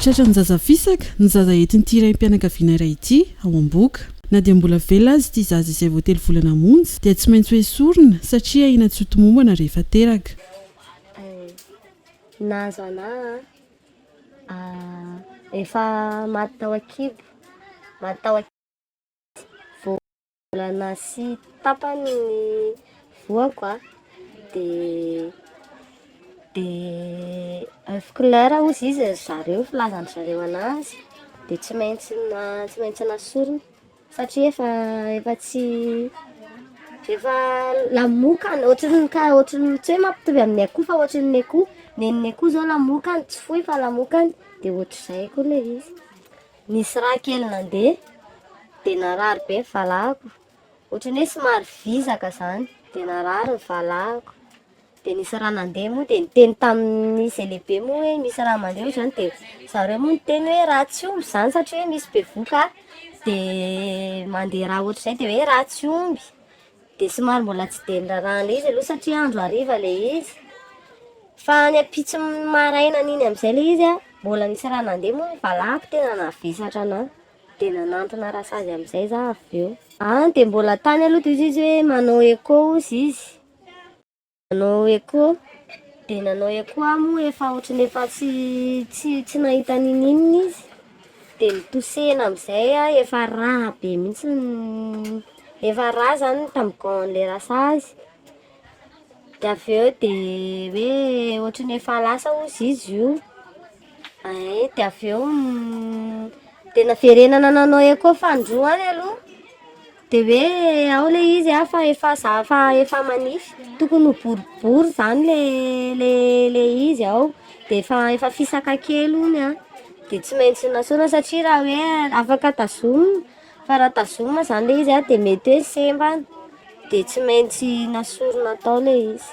Tratran'ny zaza fisaka ny zaza entin'ity raim-pianakaviana iray ity ao Amboka. Na dia mbola velona aza ity zaza izay vao telo volana hamonjy dia tsy maintsy hoesorina satria ahiana tsy ho tomombana rehefa teraka. Na zanaha a, efa maty tao an-kibo, maty tao an-kibo izy vao. Mbola nasy tapany ny voako a, de de oeuf couleur ozy izy ry zareo filazan-dry zareo anazy de tsy maintsy na tsy maintsy nasorina satria efa efa tsy efa lamokany ohatriny ka ohatriny tsy hoe mampitovy amin'ny akoho fa ohatriny ny akoho nen'ny akoho zao lamokany tsy foy fa lamokany de ohatr'izay koa le izy. Nisy rà kely nandeha dia narary be ny valahako, ohatran'ny hoe somary vizaka izany dia narary ny valahako, dia nisy rà nandeha moa dia niteny tamin'izay lehibe moa hoe misy rà mandeha ohatr'izany dia zareo moa niteny hoe rà tsy omby izany satria hoe misy bevohoka dia mandeha rà ohatr'izay dia hoe rà tsy omby. Dia somary mbola tsy dia nirarahana izy aloha satria andro hariva ilay izy. Fa any ampitson'ny maraina an'iny amin'izay ilay izy an, mbola nisy rà nandeha moa ny valahako tena navesatra anà. Dia nanantona rasazy amin'izay izaho avy eo. An, dia mbola tany aloha dia hoy izy hoe manao écho hozy izy. Nanao echo, dia nanao echo aho moa efa ohatran'ny efa tsy tsy tsy nahita ninininona izy, dia nitosehina amin'izay aho, efa rà be mihintsy ny efa rà izany ny tamigon'ilay rasazy, dia avy eo dia hoe ohatran'ny efa lasa hozy izy io, ee dia avy eo dia naverenana nanao echo fandroany aloha. Dia hoe ao ilay izy a fa efa za fa efa manify, tokony ho boribory izany le le le izy ao, dia efa efa fisaka kely hono an, dia tsy maintsy nesoina satria raha hoe afaka tazomina, fa raha tazomina izany ilay izy an dia mety hoe semba any, dia tsy maintsy nesorina tao ilay izy.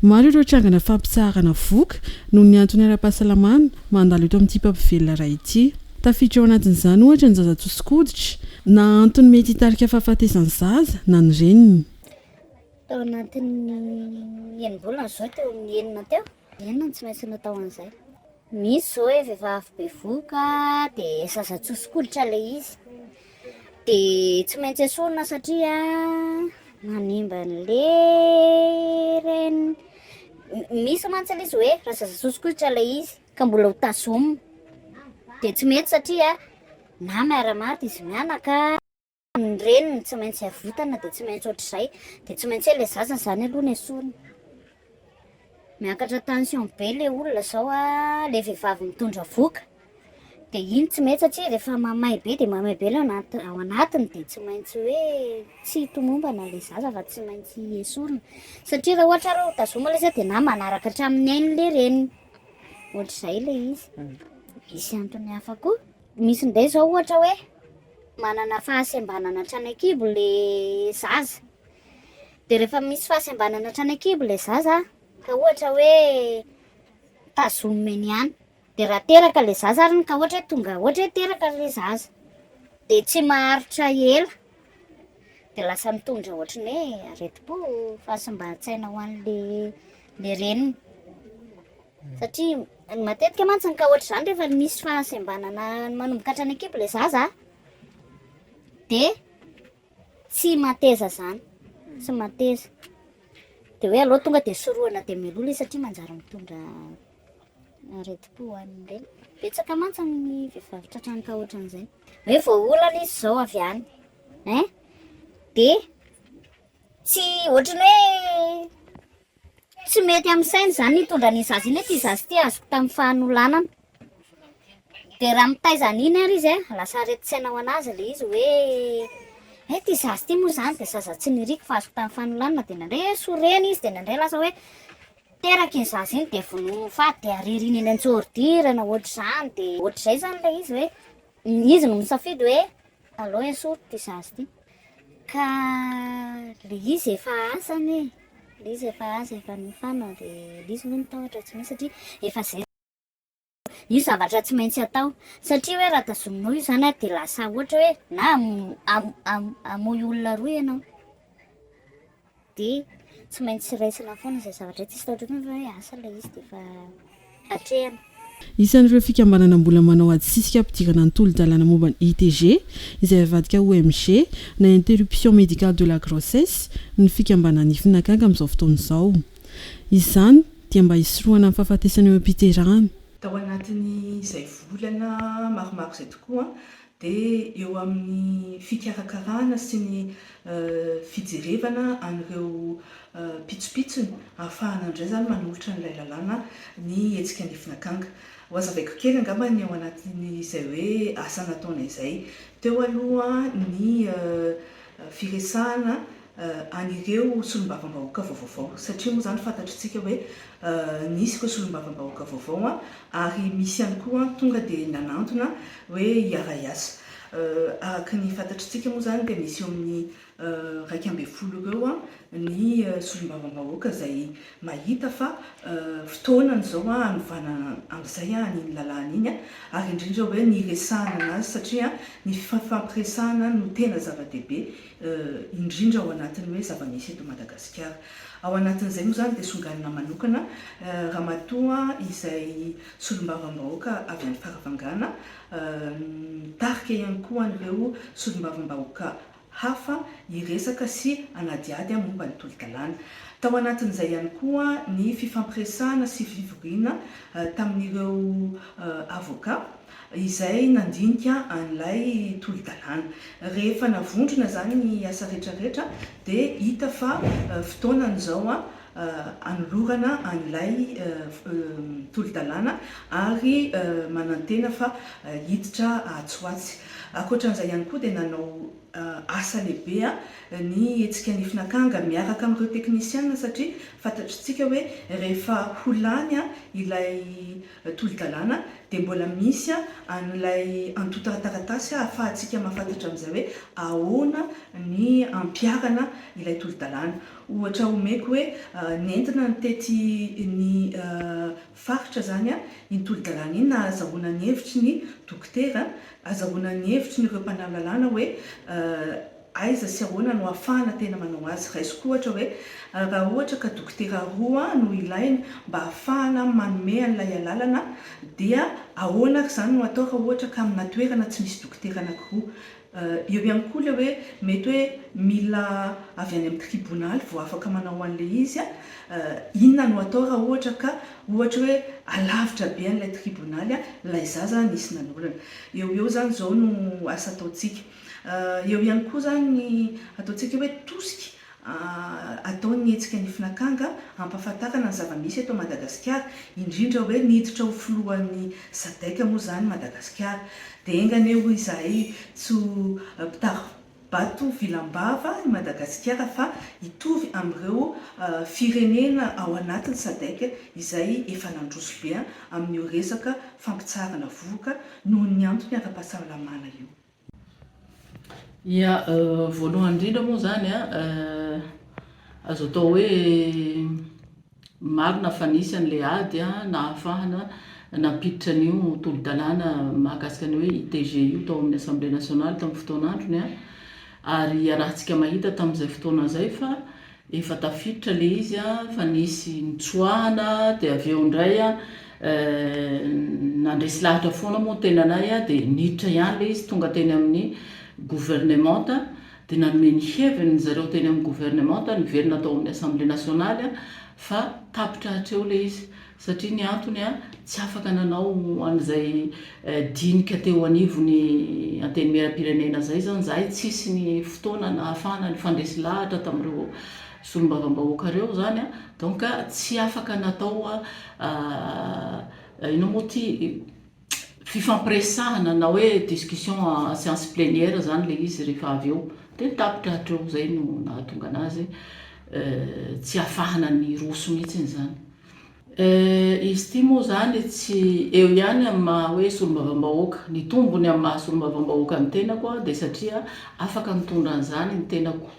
Maro ireo trangana fampitsaharana voky noho ny antony ara-pahasalamana mandalo eto amin'ity mpampivelona iray ity. Tafiditra ao anatin'izany ohatra ny zaza tsosin-koditra, na antony mety hitarika fahafatesan'ny zaza na ny reniny. Tao anatin'ny enim-bolana izao teo amin'ny enina teo, enina no tsy maintsy natao an'izay. Misy zao hoe vehivavy bevoka de zaza tsosik'olotra le izy de tsy maintsy esorina satria manimba an'le reniny. Misy mantsy le izy hoe raha zaza tsosik'olotra le izy ka mbola ho tazomina de tsy mety satria na miara-maty izy mianaka. ny reniny tsy maintsy avotana dia tsy maintsy ohatr'izay dia tsy maintsy le zaza zany aloha ny esoriny miakatra tension be le olona zao a le vehivavy mitondra voka dia iny tsy mety satria rehefa mamay be dia mamay be le ao anatiny dia tsy maintsy hoe tsy tomombana le zaza fa tsy maintsy esorina satria raha ohatra reo tazoma le zay dia na manaraka hatramin'ny ainy le reniny ohatr'izay le izy misy antony hafa koa Misy indray izao ohatra hoe manana fahasembanana hatrany an-kibo ilay zaza. Dia rehefa misy fahasembanana hatrany an-kibo ilay zaza, ka ohatra hoe tazomina eny ihany, dia raha teraka ilay zaza ary ka ohatra hoe tonga ohatra hoe teraka ilay zaza, dia tsy maharitra ela dia lasa mitondra ohatra ny hoe aretim-po, fahasimban-tsaina ho an'ilay reniny. Satria ny matetika mantsy ny ka ohatr'izany rehefa misy fahasembanana manomboka hatrany an-kibo ilay zaza dia tsy mateza izany, tsy mateza. Dia hoe aleo tonga dia sorohana dia meloa ilay satria manjary mitondra aretim-po ho an'ny reny. Betsaka mantsy ny vehivavy tratran'ny ka ohatran'izay. Hoe voaolana izy izao avy any. Hein? Dia tsy ohatrany hoe Tsy mety amin'ny saina izany ny hitondra an'iny zaza iny hoe ity zaza ity azoko tamin'ny fahanolanana. Dia raha mitaiza an'iny ary izy an, lasa aretin-tsaina ho an'azy ilay izy hoe hay ity zaza ity moa izany dia zaza tsy niriko fa azoko tamin'ny fanolanana dia nandray hoe sorena izy dia nandray lasa hoe teraka iny zaza iny dia vonoina ho faty dia areriny eny an-tsordira na ohatr'izany dia ohatr'izay izany ilay izy hoe izy no misafidy hoe aleo esory ity zaza ity. Ka le izy efa asa anie e, le izy efa asa efa nofana de le izy moa ny tahotra tsy misy satria efa zay io zavatra tsy maintsy atao satria hoe raha tazominao io zany de lasa ohatra hoe na hamono olona roa ianao dia tsy maintsy raisina foana izay zavatra tsisy tahotr'olona fa hoe asa ilay izy dia efa atrehina. Isan'ireo fikambanana mbola manao ady sisika hampidirana ny tolo-dalàna momba ny ITG, izay avadika ho MG na interruption médicale de la grossesse, ny fikambanan'ny Fnacac amin'izao fotoana izao. Izany dia mba hisorohana ny fahafatesana eo am-piterahana. Tao anatin'izay volana maromaro izay tokoa dia eo amin'ny fikarakarana sy ny fijerevana an'ireo pitsopitsony ahafahana indray izany manolotra an'ilay lalàna ny hetsika An'Ifina Akanga. Ho hazavaiko kely angamba ny ao anatin'izay hoe asa nataonay izay teo aloha ny firesahana an'ireo solombavambahoaka vaovao satria moa izany fantatritsika hoe nisy ireo solombavambahoaka vaovao ary misy ihany koa tonga dia nanantona hoe hiara-hiasa. Araka ny fantatritsika moa izany dia misy eo amin'ny iraika ambin'ny folo eo ho eo ny solombavambahoaka izay mahita fa fotoana izao hanovana amin'izay an'iny lalàna iny ary indrindra hoe ny hiresahana an'azy satria ny fifampiresahana no tena zava-dehibe indrindra ao anatin'ny hoe zava-misy eto Madagasikara. Ao anatin'izay moa izany dia songanina manokana Ramatoa izay Solombavambahoaka avy any Farafangana, mitarika ihany koa an'ireo Solombavambahoaka hafa hiresaka sy hanadihady momba ny tolo-dalàna. Tao anatin'izay ihany koa ny fifampiresahana sy fivoriana tamin'ireo Avocat izay nandinika an'ilay tolo-dalàna. Rehefa navondrona izany ny asa rehetrarehetra dia hita fa fotoana izao hanolorana an'ilay tolo-dalàna ary manantena fa hiditra atsy ho atsy. Ankoatran'izay ihany koa dia nanao asa lehibe ny hetsika Nifin' Akanga miaraka amin'ireo teknisiana satria fantatr'itsika hoe rehefa ho lany ilay tolo-dalàna dia mbola misy an'ilay antontan-taratasy ahafahantsika mahafantatra amin'izay hoe ahoana ny ampiharana ilay tolo-dalàna. Ohatra omeko hoe nentina ny tety ny faritra izany iny tolo-dalàna iny nahazahoana ny hevitry ny dokotera, azahoana ny hevitry ny ireo mpanao lalàna hoe. Aiza sy ahoana no ahafahana tena manao azy? Raisiko ohatra hoe, raha ohatra ka dokotera roa no ilaina mba ahafahana manome an'ilay alalana, dia ahoana ary izany no atao raha ohatra ka aminà toerana tsy misy dokotera anankiroa? Eo ihany koa ilay hoe mety hoe mila avy any amin'ny tribonaly vao afaka manao an'ilay izy. Inona no atao raha ohatra ka ohatra hoe alavitra be an'ilay tribonaly ilay zaza nisy nanolana? Eo ho eo izany izao no asa ataontsika. Eo ihany koa izany ny ataontsika hoe tosika atao ny hetsika Nifin'Akanga hampahafantarana ny zava-misy eto Madagasikara, indrindra hoe niditra ho filohan'ny Sadec moa izany Madagasikara. Dia enga anie hoy izahay tsy ho mpitari-bato vilam-bava i Madagasikara fa hitovy amin'ireo firenena ao anatin'ny Sadec izay efa nandroso be amin'io resaka fampitsaharana vohoka noho ny antony ara-pahasalamana io. Ia, voalohany indrindra moa izany an, azo atao hoe marina fa nisy an'ilay ady nahafahana nampiditra an'io tolo-dalàna mahakasika ny hoe ITG io tao amin'ny Assemblée nationale tamin'ny fotoan'androny an, ary iarahantsika mahita tamin'izay fotoana izay fa Efa tafiditra le izy a, fa nisy nitsoahana dia avy eo indray a nandresy lahatra foana moa ny tenanay a, dia niditra ihany le izy tonga teny amin'ny gouvernementa dia nanome ny heviny ny zareo teny amin'ny gouvernementa niverina tao amin'ny assemblée nationale a, fa tapitra hatreo le izy. Satria ny antony, tsy afaka nanao an'izay dinika teo anivon'ny Antenimierampirenena izay izany izahay, tsy hisy ny fotoana nahafahana nifandresy lahatra tamin'ireo Solombavambahoaka ireo izany, donc tsy afaka natao, inona moa ity? fifampiresahana na hoe discussion en science plenière zany le izy rehefa avy eo de ny tapitra hatreo zay no nahatonga anazy tsy hafahana ny roso mihitsiny izany. Izy ity moa izany tsy eo ihany amin'ny maha hoe solombavambahoaka. Ny tombony amin'ny maha solombavambahoaka ny tenako aho dia satria afaka nitondra an'izany ny tenako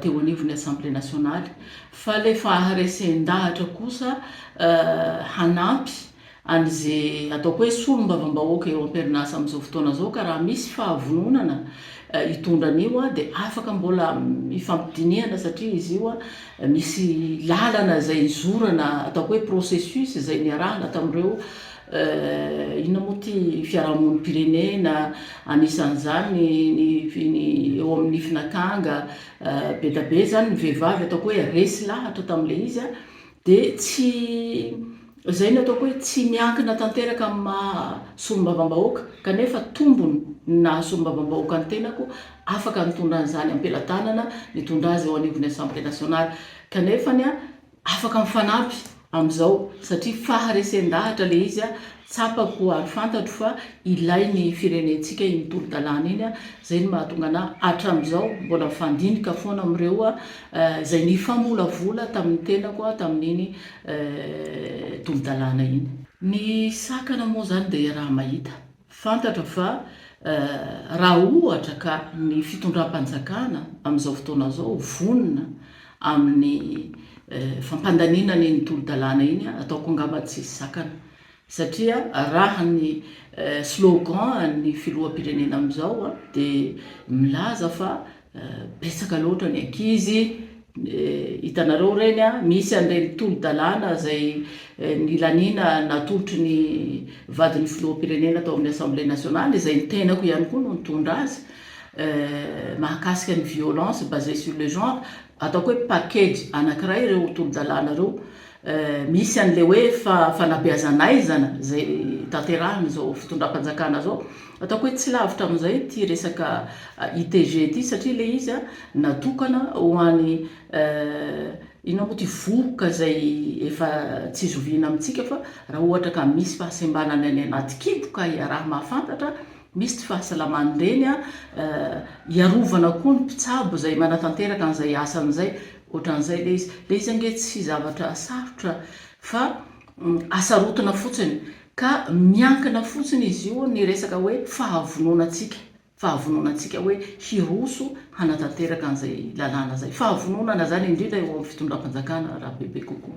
teo anivon'ny Assemblée nationale. Fa ilay faharesen-dahatra kosa hanampy an'ze ataoko hoe solombavambahoaka eo amperinasa amin'izao fotoana zao ka raha misy fahavononana hitondra an'io de afaka mbola hifampidinihana satria izy io misy lalana zay hizorana ataoko hoe processus zay niarahana tamin'ireo inona moa ty fiarahamonim-pirenena anisan'izany ny ny eo amin'ny finakanga be da be zany ny vehivavy ataoko hoe resy lahatra tamin'le izy Dia tsy izay no ataoko hoe tsy miankina tanteraka amin'ny maha solombavambahoaka kanefa tombony ny naha solombavambahoaka ny tenako, afaka nitondra an'izany ampelatanana nitondra azy eo anivon'ny Assemblée nationale kanefany afaka mifanampy amin'izao satria faharesen-dahatra ilay izy. Tsapako ary fantatro fa ilain'ny firenentsika iny tolo-dalàna iny, izay no mahatonga anà hatramin'izao mbola mifandinika foana amin'ireo izay nifamolavola tamin'ny tenako tamin'iny tolo-dalàna iny. Ny sakana moa izany dia iaraha mahita. Fantatra fa raha ohatra ka ny fitondram-panjakana amin'izao fotoana izao vonona amin'ny fampandaniana an'iny tolo-dalàna iny, ataoko angamba tsisy sakana, satria raha ny slogan an'ny filoham-pirenena amin'izao dia milaza fa betsaka loatra ny ankizy, hitanareo ireny an, misy an'ireny tolo-dalàna izay nilaniana natolotry ny vadin'ny filoham-pirenena tao amin'ny Assemblée nationale, izay ny tenako ihany koa no nitondra azy, mahakasika ny violence basee sur le genre, ataoko hoe package anakiray ireo tolodalàna ireo, misy an'ilay hoe fanabeazan'aizana izay tanterahin'izao fitondram-panjakana izao, ataoko hoe tsy lavitra amin'izay ity resaka ITG ity satria ilay izy natokana ho an'ny inona moa ity vohoka izay efa tsy zoviana amintsika fa raha ohatra ka misy fahasembanana any anaty kibo ka iaraha-mahafantatra Misy ity fahasalaman'ny reny a, hiarovana koa ny mpitsabo izay manatanteraka an'izay asany izay, ohatran'izay ilay izy. Ilay izy ange tsy zavatra sarotra fa asarotina fotsiny ka miankina fotsiny izy io ny resaka hoe fahavononantsika, fahavononantsika hoe hiroso hanatanteraka an'izay lalàna izay. Fahavononana izany indrindra eo amin'ny fitondram-panjakana raha bebe kokoa.